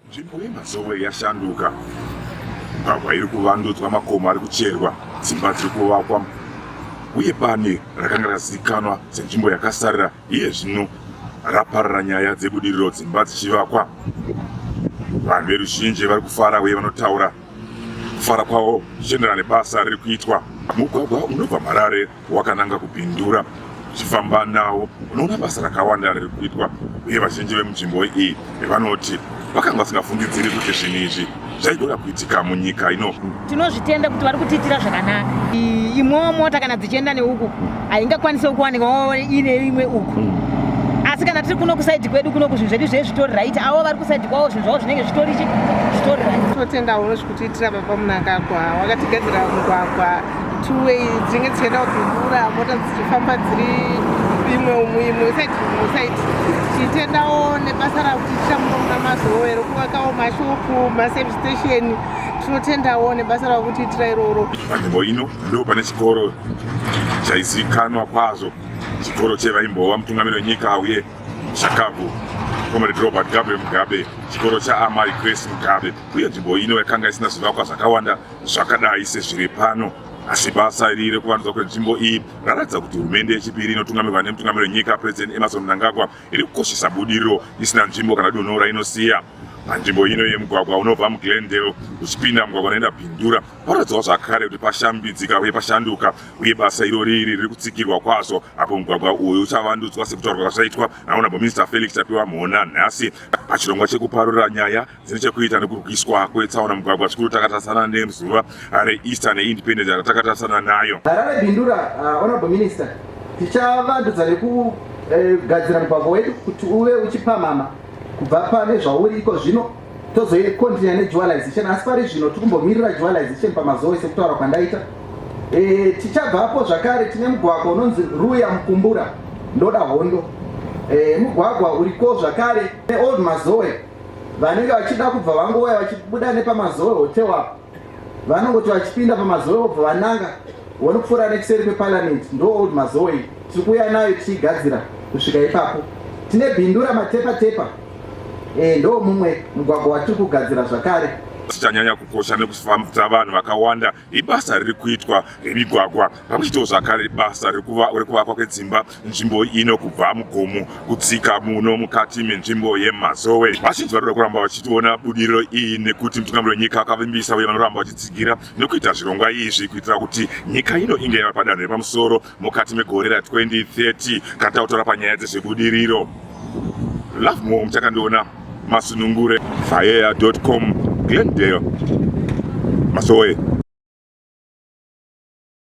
nzvimbo yemazowe yashanduka mugwagwa iri kuvandudzwa makomo ari kucherwa dzimba dziri kuvakwa uye bani rakanga razivikanwa senzvimbo yakasarira iye zvino raparara nyaya dzebudiriro dzimba dzichivakwa vanhu veruzhinji vari kufara uye vanotaura kufara kwavo zvichienderana nebasa riri kuitwa. Mugwagwa unobva Marare wakananga kuBindura uchifamba nawo unoona basa rakawanda riri kuitwa uye vazhinji vemunzvimbo iyi vanoti vakanga vasingafungidziri kuti zvinhu izvi zvaigona kuitika munyika ino. Tinozvitenda kuti vari kutiitira zvakanaka. Imwewo mota kana dzichienda neuku haingakwanise kuwanika ine imwe uku mm. asi kana tiri kuno kusaidi kwedu kuno kuzvinhu zvedu zvee zvitori right avo vari kusaidi kwavo zvinhu zvavo zvinenge zvitori chi zvitori right totenda uno zvekutiitira baba munangagwa wakatigadzira mugwagwa two way dzinenge dzichienda kudhumura mota dzichifamba dziri imwe umwe imwe usaidi umwe usaidi tichitendawo nebasa rakutiitira muno muna mazowe rokuvakawo mashopu maservice station tinotendawo nebasa rakutiitira iroro nzvimbo ino Ndipo pane chikoro chaizikanwa kwazvo chikoro chevaimbova mutungamiri wenyika uye shakabvu comrade robert gabriel mugabe chikoro chaamai grace mugabe uye nzvimbo ino yakanga isina zvivakwa zvakawanda zvakadai sezviri pano asi basa iri rekuvandudzwa kwenzvimbo iyi raratidza kuti hurumende yechipiri inotungamirwa nemutungamiri wenyika president emerson mnangagwa iri kukoshesa budiriro isina nzvimbo kana dunhu rainosiya panzvimbo ino yemugwagwa unobva muglendale uchipinda mugwagwa unoenda bindura Paradzwa zvakare kuti pashambidzika uye pashanduka uye basa iro riri riri kutsigirwa kwazvo apo mugwagwa uyu uchavandudzwa sekutaurwa kwazvaitwa naonabho minista Felix Tapiwa Mhona nhasi pachirongwa chekuparura nyaya dzine chekuita nekurwiswa kwetsaona mugwagwa zvikuru takatarisana nezuva reEaster neIndependence yatakatarisana nayo. Harare Bindura, uh, Honorable Minister, tichavandudza nekugadzira eh, mugwagwa wedu kuti uve uchipamhama kubva pane zvauri iko zvino tozoikontinya nejualization asi pari zvino tiri kumbomirira jualization pamazoe sekutaura kwandaita e, tichabvapo zvakare tine mugwagwa unonzi ruya mukumbura ndoda hondo e, mugwagwa uriko zvakare neold mazoe vanenge vachida kubva vangouya vachibuda nepamazoe hotewapo vanongoti vachipinda pamazowe vobva vananga vonopfuura nekuseri kweparliament ndo old mazowe iyi tiri kuuya nayo tichiigadzira kusvika ipapo tine bindura matepa tepa e, ndo mumwe mugwagwa watiri kugadzira zvakare chichanyanya kukosha nekufambisa vanhu vakawanda ibasa riri kuitwa remigwagwa pamwe chitewo zvakare basa rekuvakwa kwedzimba nzvimbo ino kubva mugomo kudzika muno mukati menzvimbo yemazowe vazhinji vanoda kuramba vachitiona budiriro iyi nekuti mutungamiri wenyika akavimbisa uye vanoramba vachitsigira nekuita zvirongwa izvi kuitira kuti nyika ino inge yava padanho repamusoro mukati megore ra 2030 kana takutaura panyaya dzezvebudiriro love more muchakandiona masunungure faea com glendale masowe